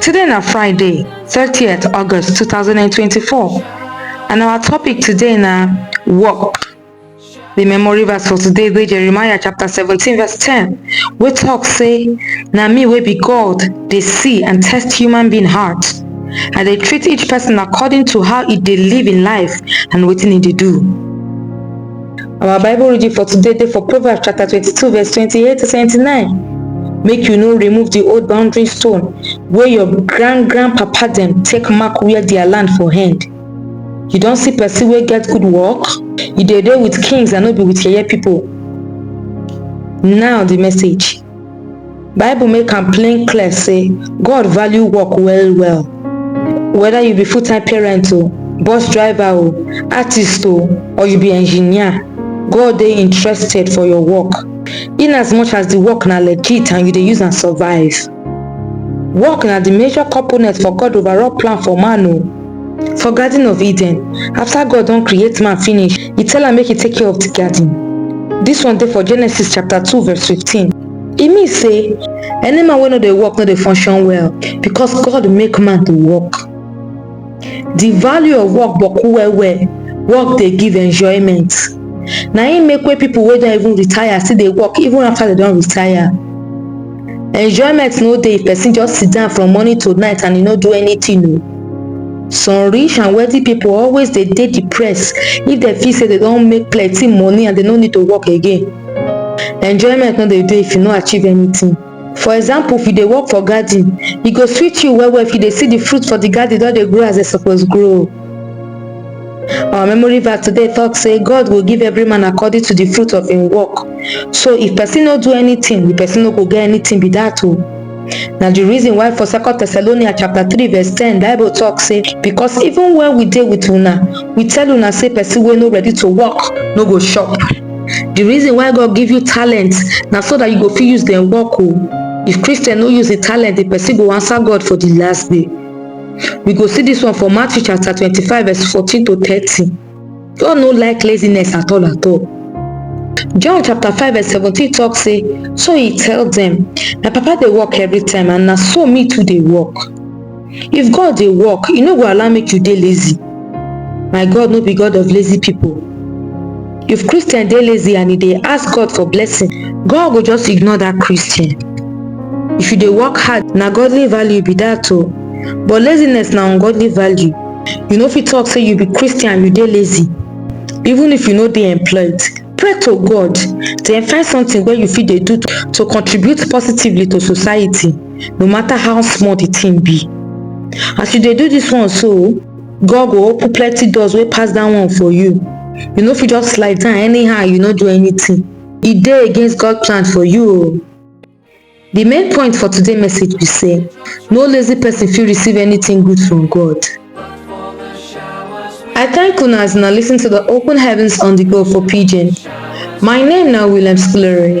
Today na Friday, thirtieth August two thousand and twenty-four and our topic today na work. The memory verse for today dey Jeremiah chapter seventeen verse ten wey talk say na me wey be God dey see and test human being heart. I dey treat each person according to how e dey live im life and wetin e dey do. Our Bible reading for today dey for Proverbs chapter 22 verse 28 to 29. Make you no remove the old boundary stone wey your grand grand papa dem take mark where their land for hand. You don see person wey get good work? You dey dey with kings and no be with yeye people. Now the message. Bible make am plain clear say God value work well well. Whether you be full time parent o, bus driver o, artist o or you be engineer, God dey interested for your work in as much as the work na legit and you dey use am survive. Work na the major component for God overall plan for man o. For Garden of Eden, after God don create man finish, he tell am make e take care of the garden. This one dey for Genesis chapter 2 verse 15. E mean say any man wey no dey work no dey function well because God make man to work. The value of work boku well well, work dey give enjoyment. Na im make wey people wey don even retire still dey work even after dem don retire. Enjoyment no dey if person just sit down from morning to night and e no do anything o. Some rich and wealthy pipu always dey dey depress if dem feel sey dem don make plenty money and dem no need to work again. Enjoyment no dey dey if you no achieve anything. For example, if you dey work for garden, e go sweet you well well if you dey see de fruit for de garden don dey grow as e suppose grow. Our memory verse today talk say God go give every man according to the fruit of him work. So if person no do anything, the person no go get anything be that o. Na the reason why for second Thessalonians chapter three verse ten bible talk say because even when we dey with una, we tell una say person wey no ready to work no go chop. The reason why God give you talent na so that you go fit use dem work o. If Christian no use the talent, the person go answer God for the last day. We go see dis one for Matthew chapter twenty-five verse fourteen to thirty. God no like laziness at all at all. John chapter five verse seventeen talk say, so he tell dem, my papa dey work every time and na so me too dey work. If God dey work, e no go allow make you dey lazy. My God no be God of lazy people. if christian dey lazy and e dey ask god for blessing god go just ignore dat christian if you dey work hard na godly value be dat o but laziness na ungodly value you no fit talk say you be christian you dey lazy even if you no dey employed pray to god then find something wey you fit dey do to contribute positively to society no matter how small the thing be as you dey do this one so God go open plenty doors wey pass that one for you. You no fit just slide down anyhow you no do anything. E dey against God plan for you o. The main point for today message be say no lazy person fit receive anything good from God. I thank una as una listen to the Open Heavens on the Go for Pidgin. My name na William Scolari.